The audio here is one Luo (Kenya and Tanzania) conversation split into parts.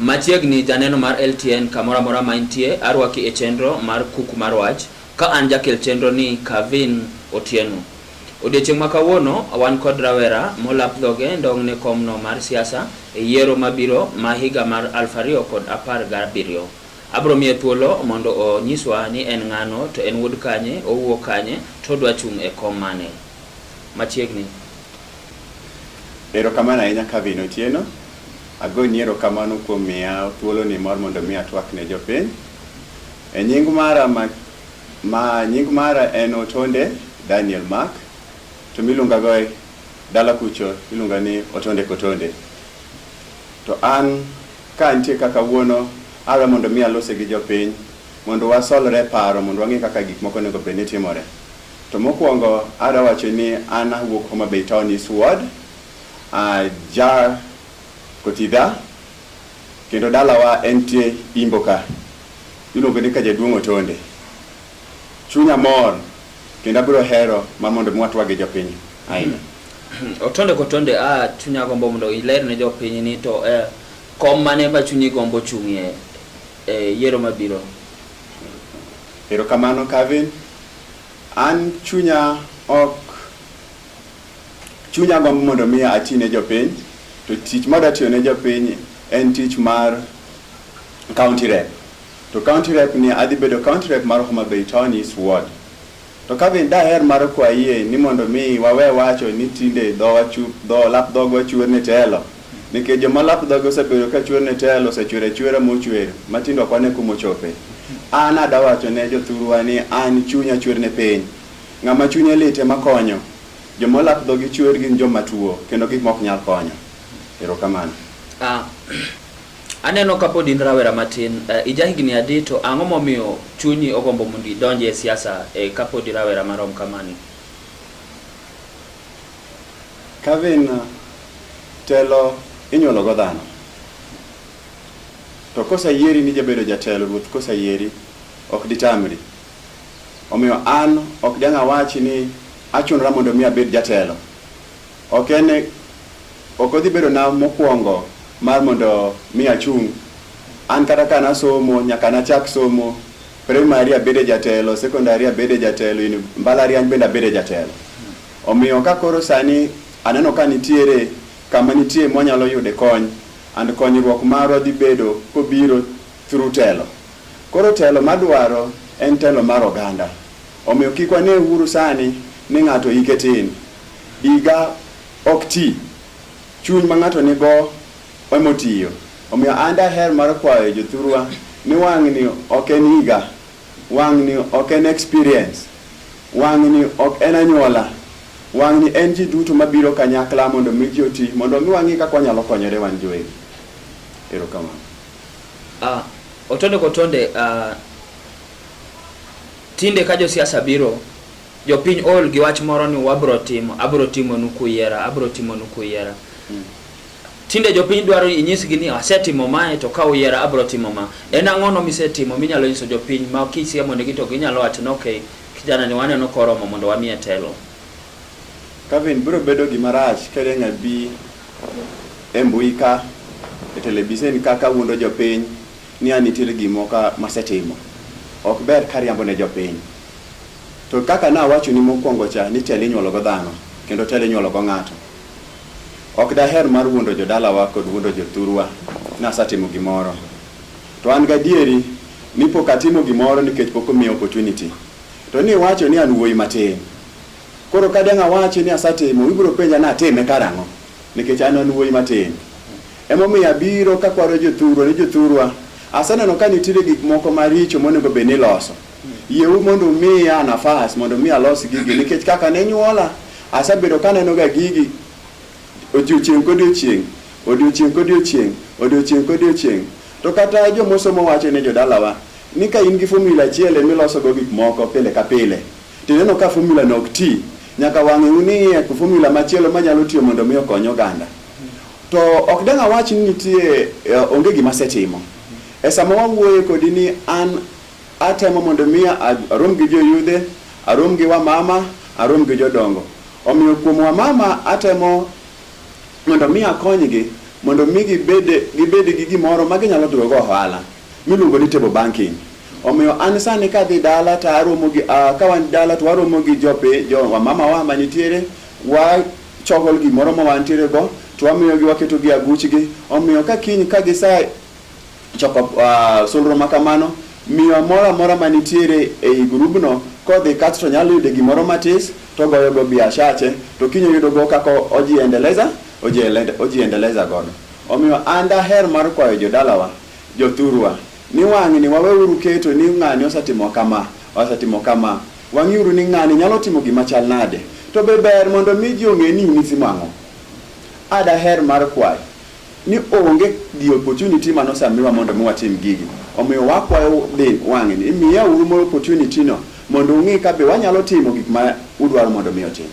Machiegni janeno mar LTN kamoro amora ma intie, arwaki e chenro mar Kuku mar Wach ka an jakel chenro ni Kavin Otieno. Odiechieng' ma kawuono wan kod rawera molap dhoge ndong'ne komno mar siasa e yiero mabiro ma higa mar aluf ariyo kod apar gabiriyo. Abro miye thuolo mondo onyiswa ni en ng'ano, to en wuod kanye, owuok kanye, to odwa chung' e kom mane. Machiegni. Erokamano ahinya Calvin Otieno. Agoni erokamano kuom miya thuoloni mar mondo mi atwak ne jopiny. E nying mara ma, ma nying mara en Otonde Daniel Mark, to miluonga go e dala kucho iluonga ni Otonde Kotonde. To an Ka nitie ka kawuono, awe mondo mi alose gi jopiny mondo wasolre e paro mondo wang'e kaka gik moko onego bed ni timore. To mokuongo adwa wacho ni an awuok Homa Bay Town East Ward, aja Kotidha kendo dalawa entie Imbo ka. Iluongo ni ka jaduong' Otonde. Chunya mor kendo abiro hero ma mondo mi watwag gi jopiny ahinya. Otonde kotonde a ah, chunya gombo mondo iler ne jopiny ni to eh, kom mane ma chunyi gombo chung'ie eh, yiero mabiro. Erokamano Kevin. An chunya ok chunya gombo mondo mi ati ne jopiny to tich ma datiyo ne jopiny en tich mar county rep. To county rep ni adhi bedo county rep mar Homa Bay Town East Ward. To ka bende daher mar kwayie ni mondo mi wawe wacho ni tinde dhowa chu, dho, lap dhogwa chuer ne telo, nikech joma lap dhogi osebedo ka chuer ne telo osechuero achuera mochuer ma tinde ok wane kuma ochope. An adawacho ne jothurwa ni an chunya chuer ne piny. Ng'ama chunye lit ema konyo. Joma olap dhogi chuer gin joma tuo kendo gik ma ok nyal konyo. Erokamano. Ah, Aneno ka pod in rawera matin, eh, ija higni adi to ang'o momiyo chunyi ogombo mondo idonj e siasa eh, ka pod irawera marom kamani? Kevin, telo inyuolo go dhano. To kosayieri ni jabedo jatelo ruoth kosayieri ok ditamri. Omiyo an ok dang' awachi ni achunra mondo mi abed jatelo. Ok en e, ok odhi bedo na mokwongo mar mondo mi achung'. An kata ka nasomo nyaka nachak somo primary abede jatelo, secondary abede jatelo, in mbalariany bende abede jatelo. Omiyo ka koro sani aneno ka nitiere kama nitie mwanyalo yude kony and konyruok marwa dhi bedo kobiro through telo. Koro telo madwaro en telo mar oganda. Omiyo kik wane uru sani ni ng'ato hike tin. Diga ok ti. Chuny ma ng'ato nigo emotiyo. Omiyo an daher mar kwayo jothurwa ni wang'ni ok en higa, wang'ni ok en experience, wang'ni ok en anyuola, wang'ni en ji duto mabiro kanyakla mondo mi ji oti, mondo mi wang'e kaka wanyalo konyore wan jowegi. Erokamano. Uh, otonde kotonde uh, tinde ka josiasa biro Jopiny ool gi wach moro ni wabro timo, abro timonu kuyiera, abro timonu kuyiera. Mm. Tinde jopiny dwaro inyisgi ni asetimo mae to ka uyiera abro timo ma. En ang'ono misetimo minyalo nyiso jopiny ma kisiemonegi to ginyalo wacho ni okay, kijana ni waneno koromo mondo wamiye telo. Kevin, biro bedo gima rach ka Riang' abi e mbui ka e televisen ka kawuondo jopiny ni an nitiere gimoko masetimo. Ok ber ka ariambo ne jopiny. To kaka nawachoni mokwongo cha ni telo inyuolo go dhano kendo telo inyuolo go ng'ato. Ok daher mar wuondo jodalawa kod wuondo jothurwa ni asetimo gimoro. To an gadieri ni pok atimo gimoro nikech pok omiya opportunity. To ni iwacho ni an wuoyi matin. Koro ka dang' awachi ni asetimo, ibiro penja ni atime karang'o? Nikech an an wuoyi matin. Emomiyo abiro kakwaro jothurwa ni jothurwa, aseneno ka nitiere gik moko maricho monego bed ni iloso. Yieu mondo umiya nafas mondo mi alos gigi nikech kaka ne nyuola asebedo kaneno ga gigi odiochieng' kodiochieng' odiochieng' kodiochieng' odiochieng' kodiochieng' to kata jomosomo wacho ne jodalawa ni ka in gi formula achiel emilosogo gik moko pile ka pile tineno ka formula no ok ti nyaka wang'e uniye ku formula machielo manyalo tiyo mondo mi okony oganda to ok dang' awach ni nitie eh, onge gima asetimo e sama wawuoye kodi ni an Atemo mondo mi arom gi joyudhe, arom gi wamama, arom gi jodongo. Omiyo kuom wamama atemo mondo mi akonygi mondo mi gibed gibed gi gimoro ma ginyalo timo go ohala miluongo ni table banking. Omiyo an sani kadhi dala to aromo gi uh, ka wan dala to waromo gi jope jo wamama wa manitiere wa chokol gimoro ma wantiere go to wamiyogi waketo gi aguchgi. Omiyo ka kiny ka gisa Choko uh, solro ma kamano miyo amoro amora ma nitiere ei grubno kodhi kasto nyalo yude gimoro matis to goyogo biashache to kiny oyudogo kaka ojiendeleza ojiendeleza godo omiyo an daher mar kwayo jodalawa jothurwa ni wang'ni waweuru keto ni ng'ani osetimo kama osetimo kama wang'iuru ni ng'ani nyalo timo gima chal nade to be ber mondo mi ji ong'e ni in itimo ang'o adaher mar kwayo ni onge the opportunity mane osamiwa mondo mi watim gigi. Omiyo wakwayo dhi wang'e ni imiya uru moro opportunity no mondo ung'e ka be wanyalo timo gik ma udwaro mondo mi otim.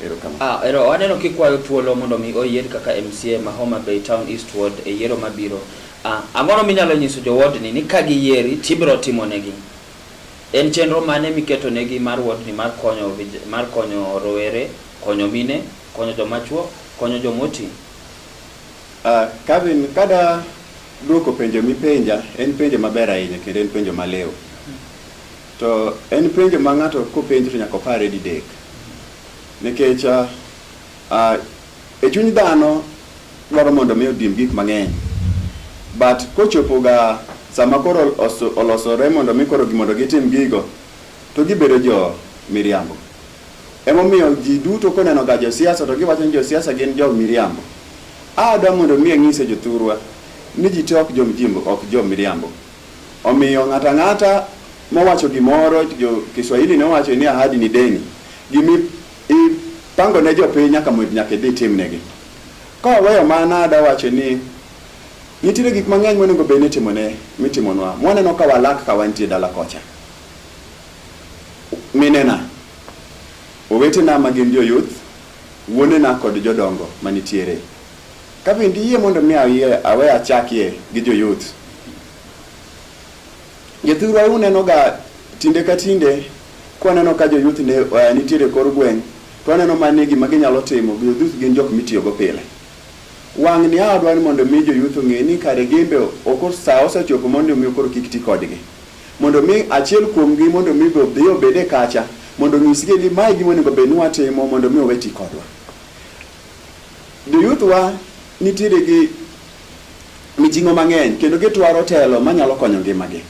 Erokamano. Ah, ero waneno kikwayo thuolo mondo mi oyier kaka MCA ma Homa Bay Town East Ward e yiero mabiro. Ah, ang'ono minyalo nyiso jo ward ni ni ka giyieri tibiro timo negi. En chenro mane miketo negi mar ward ni mar konyo mar konyo rowere, konyo mine Konyo joma chuo, konyo joma oti. Uh, Kevin, kada duoko penjo mipenja en penjo maber ahinya kendo en penjo malewo. To en penjo ma ng'ato kopenjo to nyaka opare didek. Nikech uh, uh, e chuny dhano dwaro mondo mi odim gik mang'eny. But kochopo ga sama koro olosore mondo mi koro mondo gitim gigo to gibedo jo miriambo. Emomiyo ji duto koneno ga josiasa to giwacho ni josiasa gin jo miriambo. A adwa mondo mi ang'ise jothurwa ni ji te ok jo mjimbo ok jo miriambo. Omiyo ng'ata ng'ata mowacho gimoro jo Kiswahili ne wacho ni ahadi ni deni. Gimi ipango ne jopiny nyaka mondo nyaka idhi timnegi. Ka waweyo mano adwa wacho ni nitiere gik mang'eny monego bed ni itimone mitimonwa. Mwaneno ka walak ka wantie dala kocha. Minena, owetena ma gin joyuth, wuonena kod jodongo ma nitiere. Ka bende iyie mondo mi awe achakie gi joyuth. Jathurwa e unenoga tinde ka tinde kwaneno ka joyuth ne uh, nitiere kor gweng' to aneno ma ni gima ginyalo timo joyuth gin jok mitiyogo pile. Wang' ni adwa ni mondo mi joyuth ong'e ni kare gimbe okor saa osechopo mondo mi okor kik ti kodgi. Mondo mi achiel kuomgi mondo mi odhi obed e kacha mondo onyisgi ni mae gima onego bed ni watimo mondo mi owe ti kodwa. Joyuthwa nitiere gi mijing'o mang'eny kendo gitwaro telo manyalo konyo ngimagi.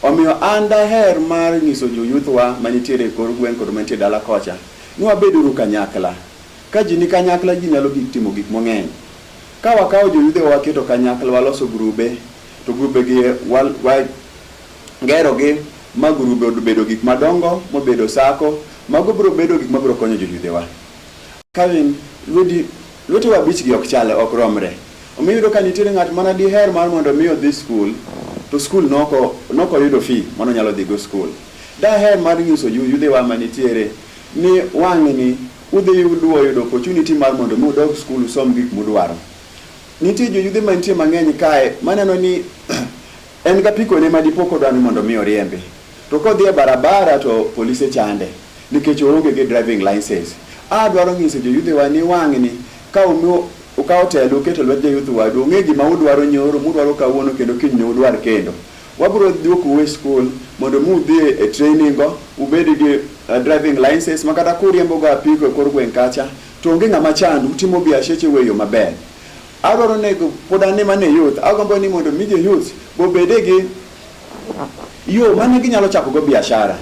Omiyo an daher mar nyiso joyuthwa manitiere e kor gweng' kod mantie dala kocha ni wabeduru kanyakla. Ka ji ni kanyakla ji nyalo gik timo gik mang'eny. Ka wakawo joyudhewa waketo kanyakla waloso grube To grubegi e, wagerogi ma grube obedo gik madongo mobedo sako, mago biro bedo gik mabiro konyo joyudhewa. Kevin, lweti lwetewa abichgi ok chale, ok romre. Omiyo iyudo ka nitiere ng'at mana diher mar mondo omi odhi skul, to skul noko noko yudo fi mano nyalo dhigo skul. Daher mar nyiso yudhewa ma nitiere ni wang'ni udhi yudo opportunity mar mondo mi udog skul usom gik mudwaro. Nitie joyudhe mantie mang'eny kae maneno ni en gapikone ma dipo kodwa ni mondo mi oriembe. To kodhi e barabara to polise chande nikech oonge gi driving license. A dwaro nyiso joyudhewa ni wang'ni ka umiyo ukawo telo uketo lwet jayuth wadu ong'e gima udwaro nyoro mudwaro kawuono kendo kiny ne udwar kendo. Wabiro duokou e skul mondo mi udhi e training go ubed gi driving license ma kata kuriembo go apiko e kor gweng' kacha To onge ng'ama chand, utimo biasheche we yo maber. Adwaro ni pod an ema ne youth, agombo ni mondo mi jo youth bobede gi yo mane ginyalo chako go biashara.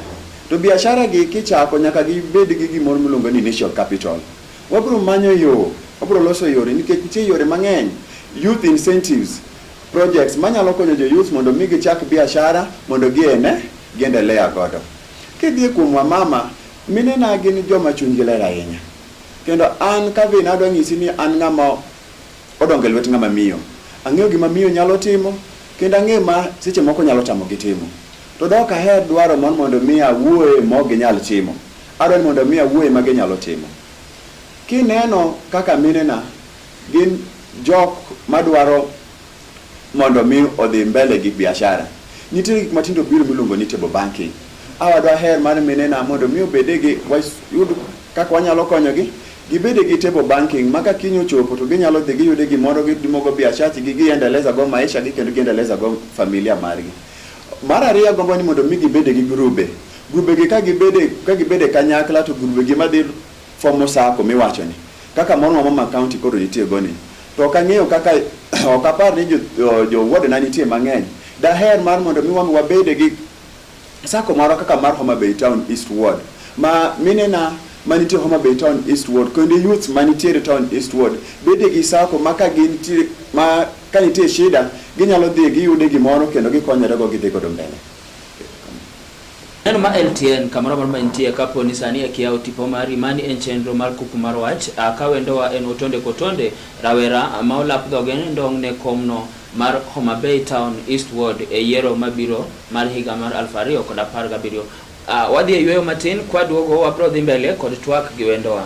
To biashara gi kichako nyaka gibed gi gimoro miluongo ni initial capital. Wabiro manyo yo, wabiro loso yore nikech nitie yore mang'eny, youth incentives, projects manyalo konyo jo youth mondo mi gichak biashara mondo giene, giendelea godo. Kidhi kuom Wamama, minena gin joma chunygi ler ahinya. Kendo an ka Vina adwa nyisi ni an ng'ama odongo e lwet ng'ama miyo. Ang'eyo gima miyo nyalo timo, kendo ang'eyo ma seche moko nyalo tamogi timo. To dok aher dwaro mon mondo mi awuoye mok ginyal timo. Adwaro ni mondo mi awuoye ma ginyalo timo. Kineno kaka minena gin jok madwaro mondo mi odhi mbele gi biashara. Nitiere gik matindo biro miluongo ni table banking. Awa dwaher mar minena mondo mi obede gi wayud kaka wanyalo konyogi gibede gi table banking ma ka kiny ochopo to ginyalo dhi giyude gimoro gitimogo biashachi gi giendeleza go maisha gi kendo giendeleza go familia margi. Mar ariyo agombo ni mondo mi gibede gi grube. Grube gi ka gibede ka gibede kanyakla to grube gi madhi fomo sako miwachoni. Kaka moro ma Mama County koro nitiego ni. To ok ang'eyo kaka ok apar ni jowuodena nitie mang'eny. Daher mar mondo mi wang' wabede gi sako marwa kaka mar Homa Bay Town East Ward ma minena manitie Homa Bay Town East Ward kendo youth manitiere Town East Ward bede gi sako ma ka gin ma ka nitie shida ginyalo dhi giyude gimoro kendo gikonyorego gidhi godo mbele. Neno ma LTN kamoro amora ma intie kapo ni sani eki yawo tipo mari, mani en chenro mar kuku mar wach. A ka wendowa en Otonde Kotonde, rawera ma olap dhoge ne ndong' ne kom no mar Homa Bay Town East Ward e yiero mabiro mar higa mar aluf ariyo kod apar gabiriyo. A wadhi e yueyo matin, kwaduogo wabro dhi mbele kod twak gi wendowa.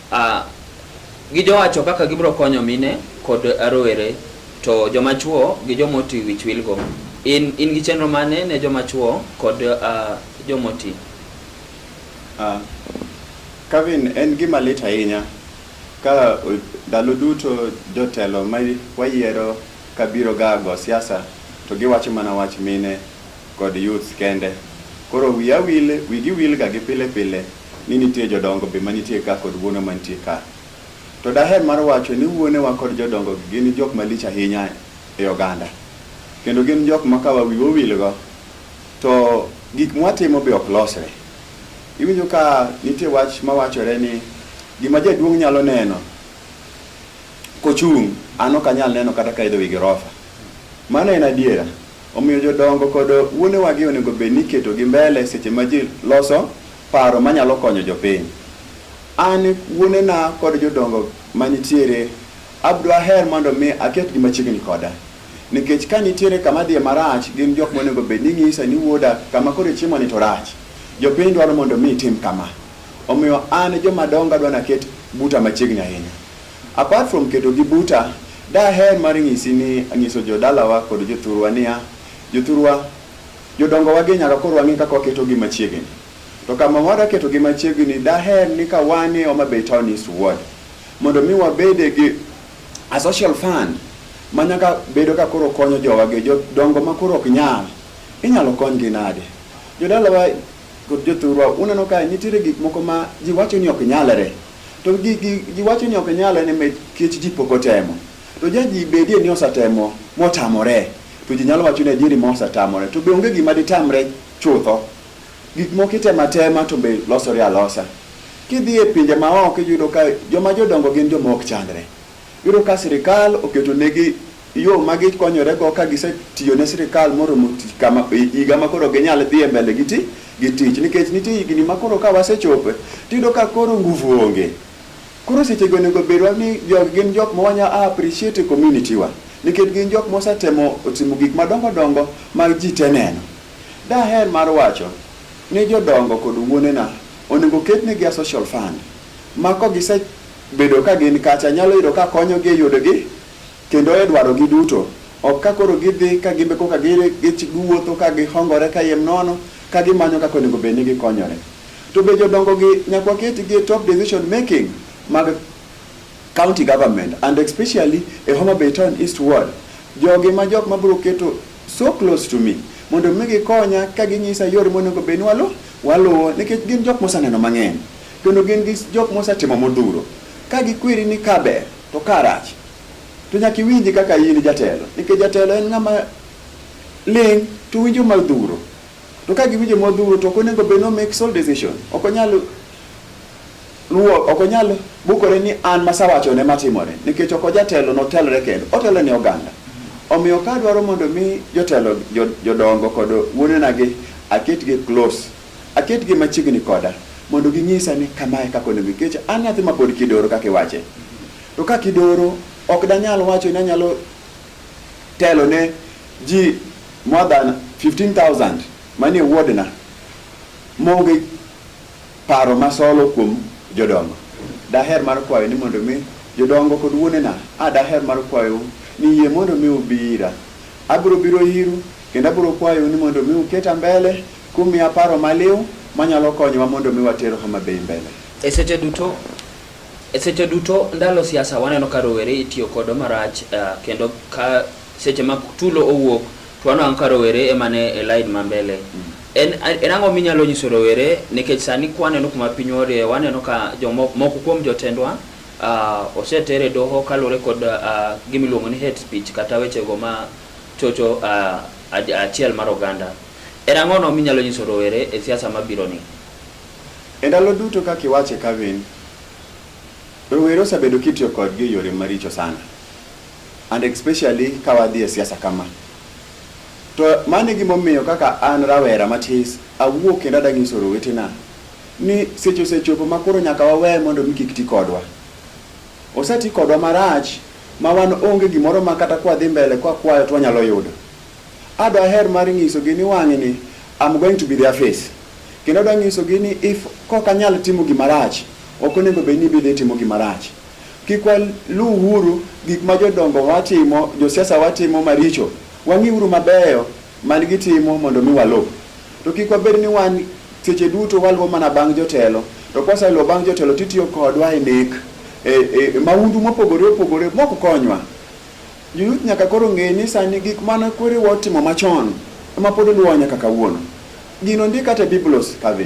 Uh, gijowacho kaka gibiro konyo mine kod rowere to joma chuo gi joma oti wich wilgo. In, in gi chenro mane ne joma chuo kod uh, joma oti? Uh, Kevin, en gima lit ahinya ka ndalo duto jotelo ma wayiero ka biro ga go siasa to giwacho mana wach mine kod youth kende. Koro wiya wil, wigi wilga gi pile pile ni nitie jodongo be manitie ka kod wuonwa mantie ka. To daher mar wacho ni wuonewa kod jodongogi gin jok malich ahinya e oganda. Kendo gin jok ma ka wiwa owilgo to gik mwatimo be ok losre. Iwinjo ka nitie wach mawachore ni gima jaduong' nyalo neno kochung' an ok anyal neno kata kaidho wi girofa. Mano en adiera. Omiyo jodongo kod wuonewagi onego bed ni iketogi mbele seche ma ji loso paro manyalo konyo jopiny. An wuonena kod jodongo manitiere abdwaher mondo mi aketgi machiegni koda. Nikech ka nitiere kama dhiye marach gin jok monego bed ni ng'isa ni wuoda kama koro ichimoni to rach. Jopiny dwaro mondo mi itim kama. Omiyo an jomadongo adwa naket buta machiegni ahinya. Apart from keto gi buta, daher mar nyisi ni anyiso jo dalawa kod jothurwa niya, jothurwa, jodongowa gi nyaka koro wang'e kaka waketo gi machiegini. To kama wadwa keto gi machiegini, daher ni ka wan e Homa Bay Town East Ward, mondo mi wabede gi a social fund ma nyaka bedo ka koro konyo jowa gi jodongo ma koro ok nyal. Inyalo kony gi nade? Jodalawa kod jothurwa, uneno ka nitiere gik moko ma ji wacho ni ok nyalre. To ji wacho ni ok nyal en nikech ji pok otemo. To ja ji bedie ni osetemo motamore. To ji nyalo wacho ni adieri ma osetamore. To be onge gima ditamre chutho. Gik moko itemo atema to be losore alosa. Kidhi e pinje maoko iyudo ka joma jodongo gin joma ok chandre. Iyudo ka sirikal oketo negi yo ma gikonyorego ka gisetiyo ne sirikal moromo kama higa ma koro ginyal dhi e mbele gi ti gi tich nikech nitie higni ma koro ka wasechope tiyudo ka koro nguvu onge. Koro sechego onego bedwa ni jog gin jok ma wanya appreciate e community wa nikech gin jok mosetemo otimo gik madongo dongo ma ji te neno. Daher mar wacho ni jodongo kod wuonena onego ketnegi a social fund ma kogise Bedo ka gin kacha nyalo yudo ka konyogi e yudogi kendo e dwarogi duto. Ok ka koro gidhi ka gimbe koka giwuotho ka gihongore kayiem nono ka gimanyo kaka onego bed ni gikonyore. To be jodongogi nyaka waketgi e top decision making mag county government and especially e Homa Bay Town East Ward. Jogi ma jok ma biro keto So close to me. Mondo mi gikonya ka ginyisa yore monego bed ni waluwo, waluwo nikech gin jok moseneno mang'eny. Kendo gin gi jok mosetimo modhuro. Ka gikweri ni ka ber to ka rach. To nyaka iwinji kaka in jatelo. Nikech jatelo en ng'ama ling' to winjo modhuro. To ka giwinjo modhuro to ok onego bed ni o make sole decision. Ok onyal Ruo ok onyal bukore ni an masawacho ne matimore nikech ok ojatelo notelre kendo otelo ne oganda. Omiyo ka adwaro mondo mi jotelo jodongo kod wuonenagi aketgi close, aketgi machiegni koda mondo ginyisa ni kama e kaka onego nikech an nyathi mapod kidoro kaka iwache. To ka kidoro ok danyal wacho ni anyalo telo ne ji more than 15,000 manie wuodna maonge Paro ma solo kuom jodongo. Daher mar kwayo ni mondo mi jodongo kod wuonena, a daher mar kwayou ni yie mondo mi ubi ira. Abiro biro iru kendo abiro kwayou ni mondo mi uketa mbele kumiya paro maliw manyalo konyowa mondo mi water Homa Bay mbele. E seche duto e seche duto ndalo siasa waneno ka rowere itiyo kodo marach kendo ka Seche ma tulo owuok to wanwang' ka rowere ema ne e lain ma mbele. Mm. En, en ang'o minyalo nyiso rowere nikech sani kwaneno kuma piny orie waneno ka jomoko moko kuom jotendwa uh, oseter e doho kaluwore kod uh, gimiluongo ni hate speech kata wechego ma chocho uh, achiel mar oganda. En ang'ono minyalo nyiso rowere e siasa mabiro ni? E ndalo duto kaka iwache Kevin, rowere osebedo kitiyo kodgi e yore maricho sana. and especially ka wadhi e siasa kama to mano e gimomiyo kaka an rawera matis awuok kendo adanyiso rowetena ni seche osechopo ma koro nyaka wawe mondo mi kik ti kodwa oseti kodwa marach ma wan onge gimoro ma kata kwadhi mbele kwa kwayo to wanyalo yudo ado aher mar nyisogi ni wang'e ni am going to be their face kendo adwa nyisogi ni if kok anyal timo gimarach ok onego bed ni bidhi timo gimarach Kik waluwuru gik ma jodongo watimo, josiasa watimo maricho. Wang'iuru mabeyo man gitimo mondo mi waluw. To kik wabed ni wan seche duto waluwo mana bang' jotelo. To kwaseluwo bang' jotelo titiyo kodwa e nek, e, e, e maundu mopogore opogore mok konywa. Joluth nyaka koro ng'e ni sani gik mane kwerewa otimo machon ema pod luwa nyaka kawuono. Gino ndik kata e Biblos kadhi.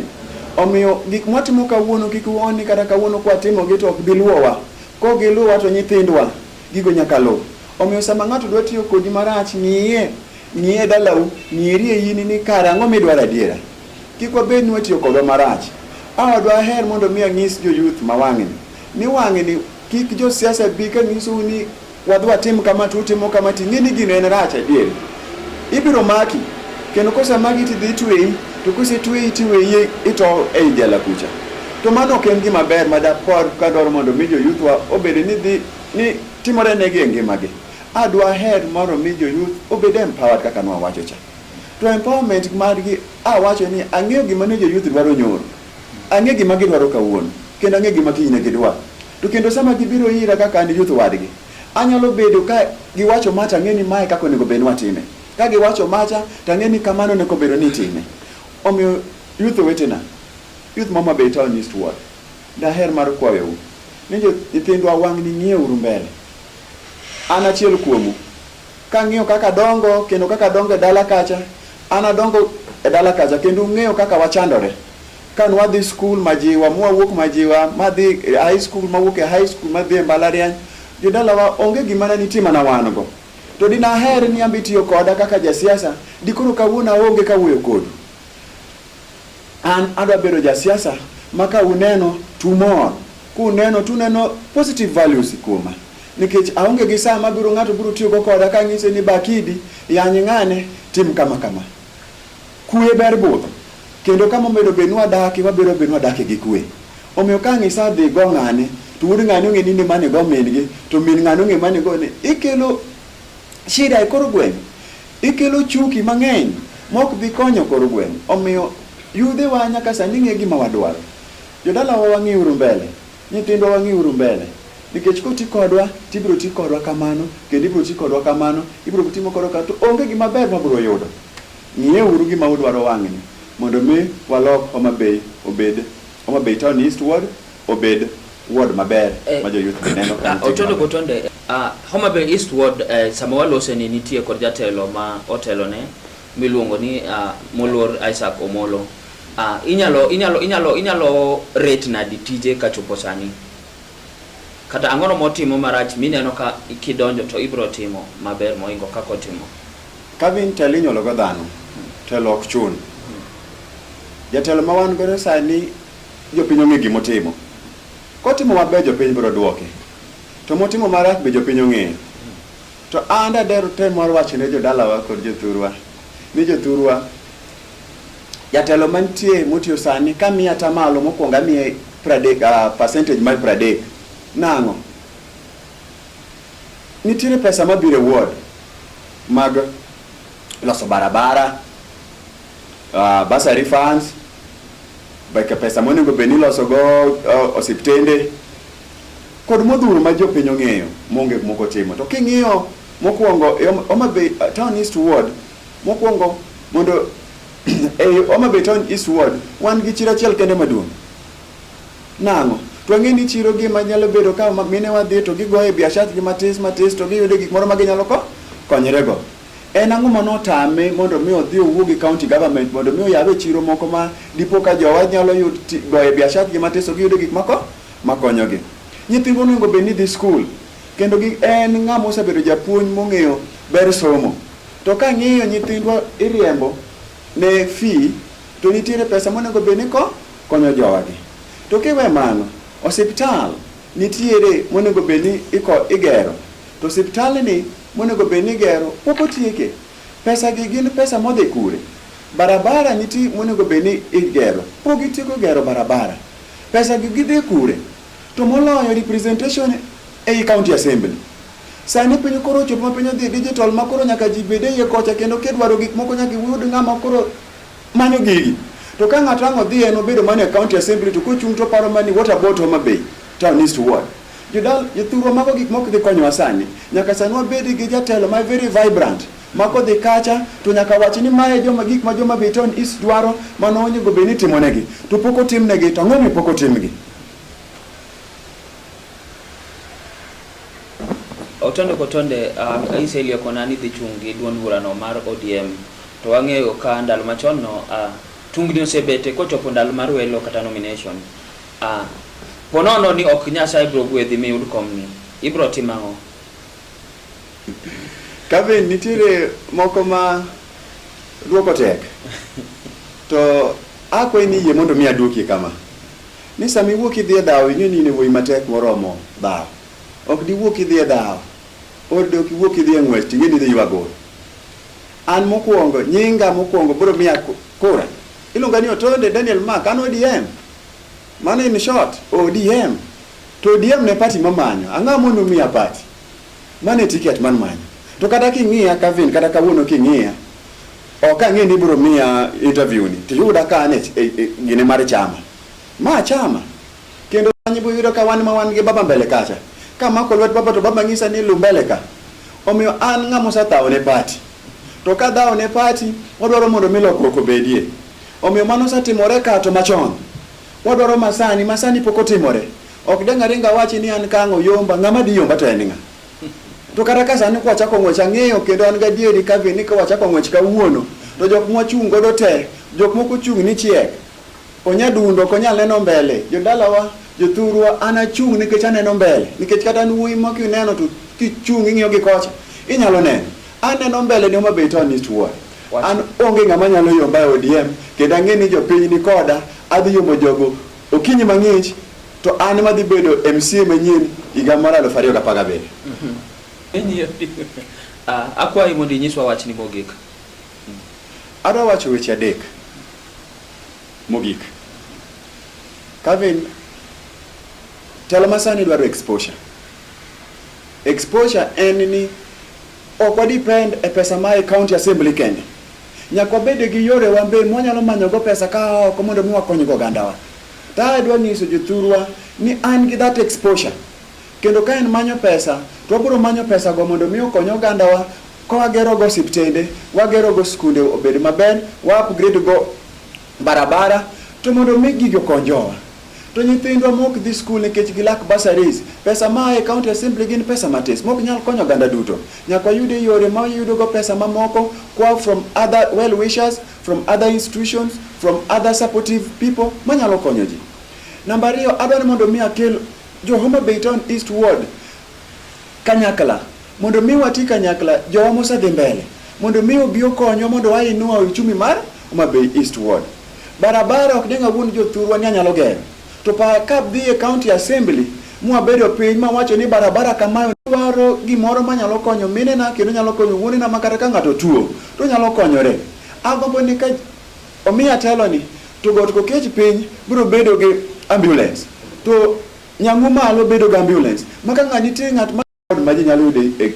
Omiyo gik mwatimo kawuono kik uo ni kata kawuono kwatimogi to ok bi luwowa. Kok giluwa to nyithindwa gigo nyaka luw. Omiyo sama ng'ato dwa tiyo kodi marach, ng'iye, ng'iye e dalau, ng'iri e in ni kare ang'o midwaro adiera. Kik wabed ni watiyo kodwa marach. Awa dwaher mondo mi anyis joyuth ma wang'ni ni wang'ni kik josiasa bi ka nyisou ni Wadhi watim kama to utimo kama to ing'e ni gino en rach adier. Ibiro maki kendo kosemaki to idhi tweyi to kosetweyi to iweyi ito ei jela kucha. To mano ok en gima ber ma dapor ka dwaro mondo mi joyuthwa obed ni dhi ni timore negi e ngimagi. Adwa her mondo mi joyuth obed empowered kaka nwawacho cha. To empowerment margi awacho ni ang'eyo gima ne joyuth dwaro nyoro. Ang'e gima gidwaro kawuono kendo ang'e gima kiny ne gidwaro. To kendo sama gibiro ira kaka an youth wadgi, anyalo bedo ka giwacho ma to ang'e ni mae kaka onego bed ni watime. Ka giwacho macha to ang'e ni kamano onego bedo ni itime. Omiyo youth wetena, youth ma Homa Bay Town East Ward, daher mar kwayou ni nyithindwa wang'ni ng'iyeuru mbele. An achiel kuomu, kang'iyo kaka adongo kendo kaka adongo e dala kacha, an adongo e dala kacha kendo ung'eyo kaka wachandore. Ka nwadhi skul majiwa, mwawuok majiwa, madhi e high school, mawuok e high school, madhi e mbalariany, jodalawa onge gima ne nitie mana wan go. To dinaher ni ambi tiyo koda kaka jasiasa, dikoro kawuono aonge kawuoyo kodu. An adwa bedo jasiasa ma ka uneno tumor, kuneno tuneno positive values kuoma. Nikech aonge gi saa mabiro ng'ato biro tiyogo koda kang'ise ni Bakidi, yany ng'ane, tim kama kama. Kue ber budho, kendo kama omedo bed ni wadaki, wabiro bedo ni wadaki gi kue. Omiyo ka ang' isadhi go ng'ane, to wuod ng'ane ong'e ni nimane go min-gi, to min ng'ane ong'e mane go ni, ikelo shida e kor gweng', ikelo chuki mang'eny mok dhi konyo kor gweng'. Omiyo yudhewa nyaka sani ng'e gima wadwaro. Jodalawa wang'iuru mbele, nyithindwa wang'iuru mbele, nikech koti kodwa to ibiro ti kodwa kamano, kendo ibiro ti kodwa kamano, ibiro timo kodwa kamano, to onge gima ber ma wabiro yudo. Ng'ieuru gima udwaro wang'ni mondo mi walok Homa Bay obed Homa Bay Town East Ward obed ward maber ma jo youth be neno ka nitie gima ber. Homa Bay East Ward sama walose ni nitie kod jatelo ma otelo ne miluongo ni Moluor Isaac Omolo. Inyalo inyalo inyalo inyalo rate nadi tije ka chopo sani? Kata ang'ono motimo marach mineno ka kidonjo to ibiro timo maber mohingo kaka otimo? Kavin telo inyuolo go dhano, telo ok chun. Jatelo ma wan godo sani jopiny ong'e gima otimo. Kotimo maber jopiny biro duoke. To motimo marach be jopiny ong'eyo. To an dader tem mar wacho ne jodalawa kod jothurwa ni jothurwa jatelo mantie motiyo sani kamiye atamalo mokwongo amiye pradek, uh, percentage mar pradek nang'o Nitiere pesa mabiro e ward mag loso barabara, uh, bursary funds, beke pesa monego bed ni ilosogo uh, osiptende kod modhuro ma jopiny ong'eyo monge moko timo. To king'iyo mokwongo e Hom- Homa Bay uh, Town East Ward mokwongo mondo e Homa Bay Town East Ward wan gi chiro achiel kende maduong' Nang'o? To ang'e ni chiro gima nyalo bedo ka minewa dhi to gigoye biashatgi matis matis to giyude gik moro ma ginyalo ko konyrego. En ang'o ma notame mondo mi odhi owuo gi county government mondo mi oyawe chiro moko ma dipo ka jowa nyalo yud goye biashatgi matis to giyude gik mako makonyogi. Nyithindwa onego bed ni dhi skul kendo gi en ng'ama osebedo japuonj mong'eyo ber somo. To ka ng'iyo nyithindwa iriembo ne fee to nitiere pesa monego bed ni ko konyo jogi. To kiwe mano, osiptal nitiere monego bed ni igero, to osiptandni monego bed ni igero pok otieke. Pesagi gin pesa modhi kure? Barabara nitie monego bed ni igero, pok gitieko gero barabara. Pesagi gidhi kure? To moloyo representation ei county assembly. Sani piny koro ochopo ma piny odhi digital ma koro nyaka ji bed e iye kocha kendo kidwaro gik moko nyaka iyud ng'ama koro Mano gigi. To ka ng'ato ang' odhi en obedo mana e county assembly to kochung' to paro mani what about Homa Bay town east ward. Jodal jothurwa mago gik mok dhi konyowa sani. Nyaka sani wabed gi jatelo ma very vibrant ma kodhi kacha to nyaka wach ni mae joma gik ma joma Bay town east dwaro mano onego bed ni timonegi to pok otimnegi to ang'o mi pok otimgi? Otonde kotonde, uh, Aisha Iliokona ni dhi chung' gi duond burano mar ODM. To wang'eyo ka ndalo machon no, uh, tungni osebete kochopo ndalo mar welo kata nomination. Uh, ponono ni ok Nyasaye biro gwedhi miyud komni. Ibiro timo ang'o? Kevin, nitiere moko ma dwoko tek. To akwayi ni yie mondo mi adwokie kama. Ni sama iwuok idhi e dhawo, ing'e ni in e wuoyi matek moromo dhawo. Ok diwuok idhi e dhawo, or dok iwuok idhi e ng'wech, ting'e ni idhi ywa gol. An mokwongo, nyinga mokwongo biro miya kura. Iluonga ni Otonde Daniel Mark, an ODM. Mano in short, ODM. To ODM ne party mamanyo. Ang'o mondo miya party? Mano e ticket man manyo. To kata king'iya Kevin, kata kawuono king'iya, Ok ang'e ni ibiro miya interview ni tiyuda ka an e, e, e gine mar chama. Ma chama. Kendo kanyo ibiro yudo ka wan ma wan gi baba mbele kacha. Ka mako lwet baba to baba ng'isa ni lu mbele ka. Omiyo an ng'ama osethawo ne party. To ka dhawo ne party, wadwaro mondo mi lokruok obedie. Omiyo mano osetimore ka to machon. Wadwaro masani, masani pok otimore. Ok danga ringa wachi ni an kang'o yomba, ng'ama di yomba to en ng'a. To kata ka sani kwachako ng'wech ang'eyo kendo an gadieri ka be ni ka wachako ng'wech kawuono to jok mwachung' godo te jok moko chung' ni chiek onyadundo ok onyal neno mbele jodalawa jothurwa an achung' nikech aneno mbele nikech kata an wuoyi ma kineno to kichung' ing'iyo gi kocha inyalo neno aneno mbele ni Homa Bay to an istuwa an onge ng'ama nyalo yomba e ODM kendo ang'e ni jopiny ni koda adhi yomo jogo okinyi mang'ich To an ema adhi bedo MCA manyien higa mar 2017. Ah, akwayi mondo inyiswa wachni mogik. Adwa wacho weche adek mogik. Kevin, telo masani dwaro exposure. Exposure en ni ok wadepend e pesa mae county assembly kende. Nyaka wabed gi yore wambe mwanyalo manyogo pesa ka oko mondo mi wakonygo ogandawa. Ka adwa nyiso jothurwa ni an gi that exposure kendo ka en manyo pesa to wabiro manyo pesago mondo mi okony ogandawa ka wagerogo osiptende, wagerogo skunde obed maber, wa upgrade go barabara to mondo mi gigi okony jowa. To nyithindwa mok dhi skul nikech gilak bursaries, pesa ma e county assembly gin pesa matis mok nyal konyo oganda duto. Nyaka wayud e yore ma wayudogo pesa mamoko kwa from other well wishers from other institutions, from other supportive people manyalo konyo ji. Namba ariyo, adwa ni mondo mi akel jo Homa Bay Town East Ward kanyakla mondo mi wati kanyakla jowa mosedhi mbele mondo mi obi okonywa mondo wainua uchumi mar Homa Bay East Ward. Barabara ok ding'a wuon jothurwa ni anyalo gero To pa ka dhi e county assembly mwabedo piny mawacho ni barabara kamayo dwaro gimoro manyalo konyo minena kendo nyalo konyo wuonena ma kata ka ng'ato tuo to nyalo konyore. Agombo ni ka omiya telo ni to got kokech piny biro bedo gi ambulance to nyang'u malo bedo gi ambulance ma ka ng'a nitie ng'at ma ward ma ji nyalo yude e,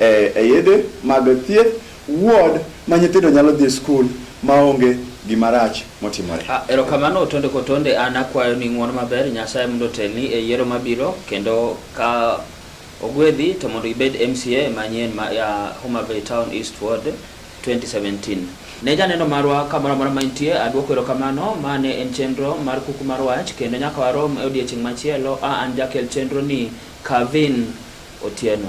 e, e yedhe mag thieth, ward ma nyithindo nyalo dhi skul maonge gima rach motimore. Ah, erokamano Otonde Kotonde, an akwayo ni ng'uono maber Nyasaye mondo otelni e yiero mabiro kendo ka ogwedhi to mondo ibed MCA manyien ma ya Homa Bay Town East Ward 2017. Ne janeno marwa kamoro amora ma intie, adwoko erokamano. Ma ne en chenro mar kuku mar wach kendo nyaka warom e odiechieng' machielo. A an jakel chenro ni Kavin Otieno.